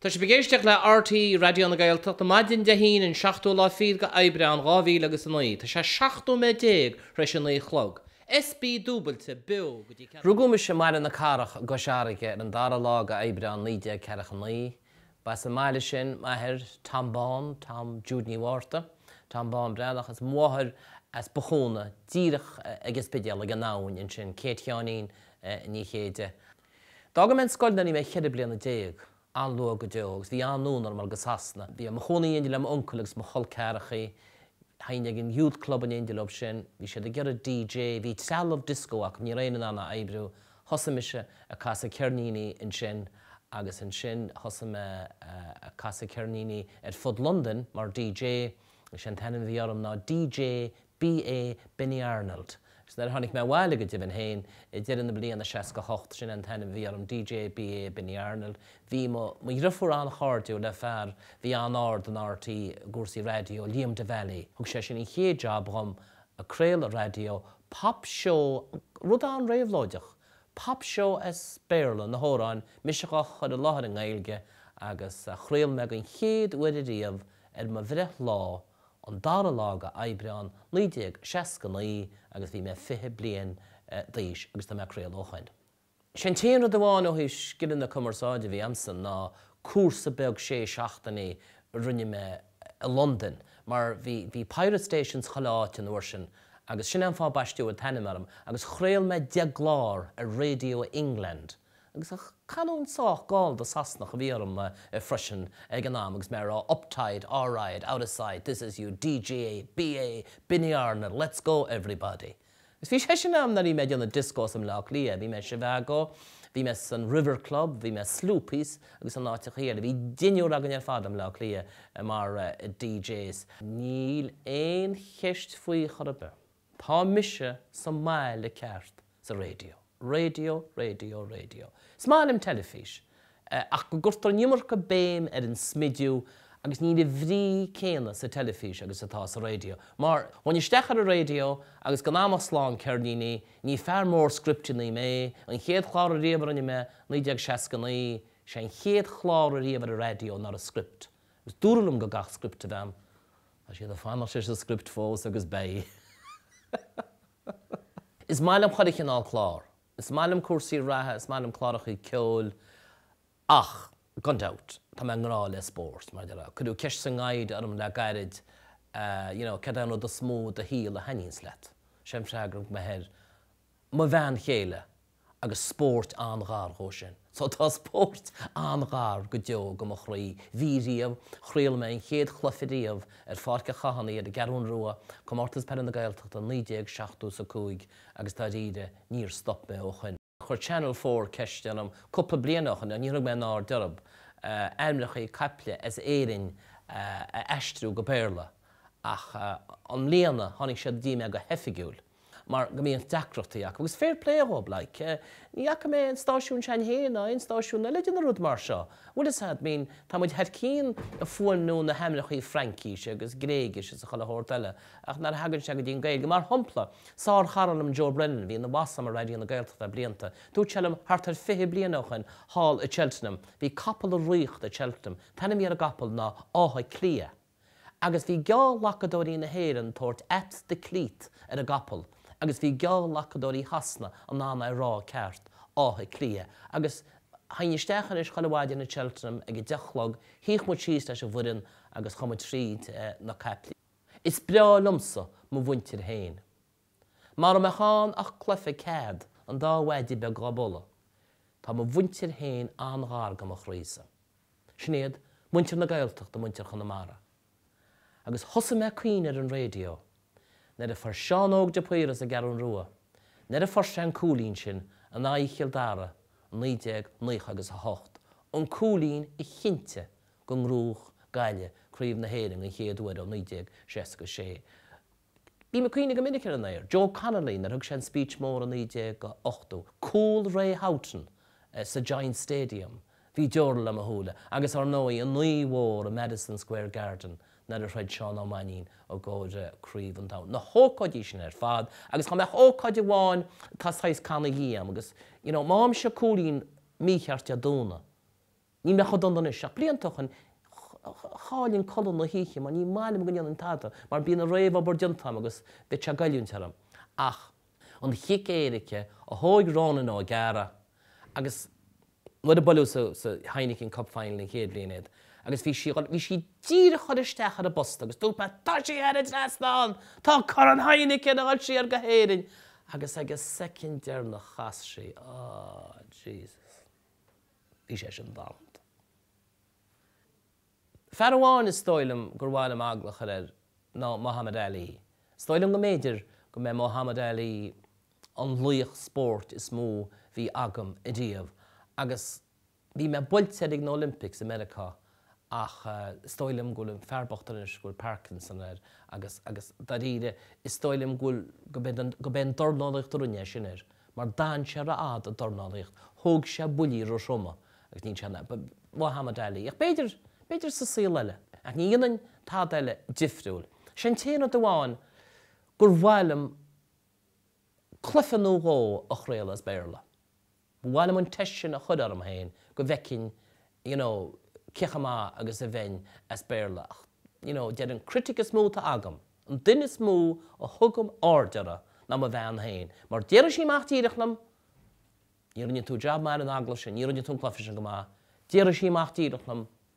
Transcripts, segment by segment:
Tá sibh ag éisteacht le RTÉ Raidió na Gaeltachta, maidin Dé hAoine an 7ú lá fichead de Aibreán 2000 agus a 9, tá sé 17 nóiméad tar éis a 9 a chlog. SB Dúbailte, beo go dtí ceathrú. Rugadh mise i mBaile na Cathrach i gCois Fharraige ar an 2ú lá de Aibreán 1949. Ba as an mbaile sin m'athair Tom Bán, Tom Jude Ní Mhárta, Tom Bán Breathnach, is mo mháthair as Bothúna, díreach ag an Spidéal, ag an abhainn ansin, Kate Sheáinín Ní Chéide. D'fhág mé an scoil nuair a bhí mé ceithre bliana déag, an-luath go deo, agus bhí an-fhonn orm dul go Sasana. Bhí mé i mo chónaí in éindí le m'uncail agus mo chol ceathrachaí. Théinn ag an Youth Club in éindí leo sin. Bhí siad ag iarraidh DJ. Bhí trealamh disco acu, ní raibh éinne in ann é a oibriú. Thosaigh mise ag casadh ceirníní ansin agus ansin thosaigh mé ag casadh ceirníní ar fud Londain mar DJ. Sé an t-ainm a bhí orm ná DJ BA Benny Arnold. Is nuair a tháinig mé abhaile go deimhin féin, ag deireadh na bliana 68, sin é an t-ainm a bhí orm, DJ BA Benny Arnold. Bhí mo dhriofúr an-chairdiúil le fear bhí an-ard in RTÉ i gcúrsaí raidió, Liam Devally. Thug sé sin an chéad jab dhom ag craoladh raidió, Pop Show, rud an-réabhlóideach. Pop Show as Béarla, na hamhráin mise dhá chur i láthair i nGaeilge agus chraol mé den chéad uair ariamh ar mo bhreithlá i an dara lá de Aibreán 1969 agus bhí mé fiche bliain d'aois agus tá mé ag craoladh ó shoin. Sé an t-aon rud amháin ó thaobh scileanna cumarsáide a bhí a'msa ná cúrsa beag sé seachtainí a rinne mé i Londain mar bhí bhí Pirate Stations chuile áit an uair sin agus sin é an fáth a baisteadh an t-ainm orm agus chraol mé deich gclár ar Radio England Agus an chanúint sách gallda Sasanach a bhí orm freisin ag an am agus mé a rá uptight, alright, out of sight, this is your DJ, BA, Benny Arnold, let's go everybody. Agus bhí sé sin ann nuair a bhí mé ag déanamh dioscós i mBleá Cliath, bhí mé i Zhivago, bhí mé san River Club, bhí mé i Sloopy's agus in áiteacha eile. Bhí deichniúr againn ar fad i mBleá Cliath mar DJs. Níl aon cheist faoi chor ar bith. Tá mise sa mbaile ceart, sa raidió, raidió, raidió, raidió. Is maith liom teilifís, ach go gcuirtear an iomarca béim ar an smidiú agus níl an bhrí céanna sa teilifís agus atá sa raidió. Mar, ghabhfainn isteach ar an raidió agus gan a'm ach slám ceirníní, ní fear mór scripteannaí mé, an chéad chlár ariamh a rinne mé, 1969, sé an chéad chlár ariamh ar an raidió nach raibh script, agus dúradh liom go gcaithfeadh script a bheith ann. Tá siad ag fanacht leis an script fós agus beidh. Is maith liom chuile chineál clár. Is maith liom cúrsaí reatha, is maith liom cláracha ceoil ach, gan dabht, tá mé i ngrá le spórt. Mar a déarfá, cuireadh ceist sa ngaire orm le gairid, you know, céard é an rud is mó i do shaol a thaithníonns leat? Sé an freagra a thug mé air, mo bhean chéile agus spóirt an-ghar dhó sin. So, tá spóirt an-ghar go deo go mo chroí. Bhí riamh. Chraol mé an chéad chluiche riamh ar Pháirc a' Chathánaigh ar an gCeathrún Rua, Comórtas Peile na Gaeltachta 1970 's 5, agus dáiríre, níor stop mé ó shoin. Chuir Channel Four ceist orm cúpla bliain ó shoin, ach níor thug mé aon aird orthub, ainmneachaí caiple as Éirinn a aistriú go Béarla, ach i mbliana, tháinig siad go dtí mé go hoifigiúil. mar go mbíodh deacrachtaí acu, agus fair play dhób, like. Ní fhaca mé an stáisiún s'againn féin ná aon stáisiún eile ag déanamh rud mar seo, bhfuil fhios a'd, I mean tá muid thar cinn a' fuaimniú na hainmneachaí Fraincise agus Gréigise is a chuile shórt eile ach nuair a thagann sé go dtí'n Gaeilge, mar shompla, sár chara liom Joe Brennan, bhí ina bhoss a'm i Raidió na Gaeltachta le blianta, dúirt sé liom thart ar fiche bliain ó shoin thall i Cheltenham, bhí capall ag ritheacht i Cheltenham, t-ainm a bhí ar an gcapall ná Áth Cliath. agus bhí geallghlacadóirí na hÉireann ag tabhairt Ate the Cleat ar a gcapall agus bhí geallghlacadóirí Shasana in ann é rá ceart, Áth Cliath, agus théinn isteach anois chuile mhaidin in Cheltenham ag a deich a chlog, shuíodh muid síos leis an bhfoireann agus chuaigh muid tríd na caiple. Is breá liomsa mo mhuintir féin. Mara mbeadh ann ach cloife cead an dá mhaide beag dhá bualadh, tá mo mhuintir féin an-ghar go mo chroí-sa. Sin iad muintir na Gaeltachta, muintir Chonamara. Agus thosaigh mé ag caoineadh ar an raidio, nuair a fuair Seán Óg De Paor as an gCeathrún Rua, nuair a fuair sé an cúilín sin in aghaidh Chill Dara i naoi déag naocha agus a hocht, an cúilín a chinntigh go ngnóthódh Gaillimh craobh na hÉireann an chéad uair ó naoi déag seasca a sé. Bhí mé ag caoineadh go minic ar an aer. Joe Connolly nuair a thug sé an speech mór i 1980, cúl Ray Houghton sa Giants Stadium, bhí deora le mo shúile, agus ár ndóigh an oíche mhór i Madison Square Garden nuair a throid Seán Ó Mainnín i gcomhair Craobh an Domhain. Na hócáidí sin ar fad agus chomh maith ócáid amháin tá saghas cannaí dhíom agus you know má bhímse cúilín mícheart de dúnadh. Níl mé chomh dona anois ach blianta ó shin chaillinn codladh na hoíche mar ní maith liom go ndéanfainn tada mar bíonn an réamhobair déanta agam agus bheadh sé ag goilliúint orm ach an chic éirice a thóig Rónán Ó Gadhra agus nuair a buaileadh sa Heineken Cup Final an chéad bhliain iad agus bhí sí díreach a dhul isteach ar an bposta agus dúirt mé Tá sí thar an trasnán! Tá Corn Heineken a dhul siar go hÉirinn! Agus ag an soicind deireanach chas sí. Aww, Jesus. Bhí sé sin damanta. Fear amháin is dóigh liom gur mhaith liom agallamh a chur air ná Muhammad Ali. Is dóigh liom go mb'fhéidir go mb'é Muhammad Ali an laoch spóirt is mó bhí agam ariamh agus bhí mé buailte air ag na Olympics i Meiriceá ach is dóigh liom go bhfuil an fear bocht anois, go bhfuil Parkinson air agus, agus dáiríre, is dóigh liom go bhfuil, gurb é an, gurb é an dornálaíocht a rinne é sin air, mar d'fhan sé rófhada ag dornálaíocht, thóg sé buillí róthroma agus níl sé in ann, Muhammad Ali, ach b'fhéidir, b'fhéidir sa saol eile, ach ní dhéanfainn tada eile difriúil. Sé an t-aon rud amháin gur mhaith liom cluiche nó dhó a chraoladh as Béarla. Ba mhaith liom an teist sin a chur orm féin go bhfeicinn you know cé chomh maith agus a bheinn as Béarla ach you know deir an critic is mó atá agam, an duine is mó a thugaim aird orthu ná mo bhean féin mar déarfaidh sí amach díreach liom Ní rinne tú jab maith ar an agallamh sin, ní rinne tú an cluiche sin go maith, déarfaidh sí amach díreach liom.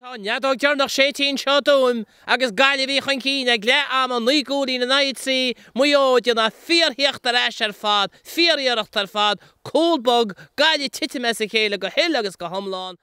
Tá an fheadóg deireanach séidte anseo i dTuaim agus Gaillimh a bhí chun cinn ag leath ama, naoi gcúilín in aghaidh a trí, Maigh Eo ag déanamh fíorthíocht ar ais ar fad, fíoriarracht ar fad, cúl bog, Gaillimh ag titim as a chéile go huile agus go hiomlán.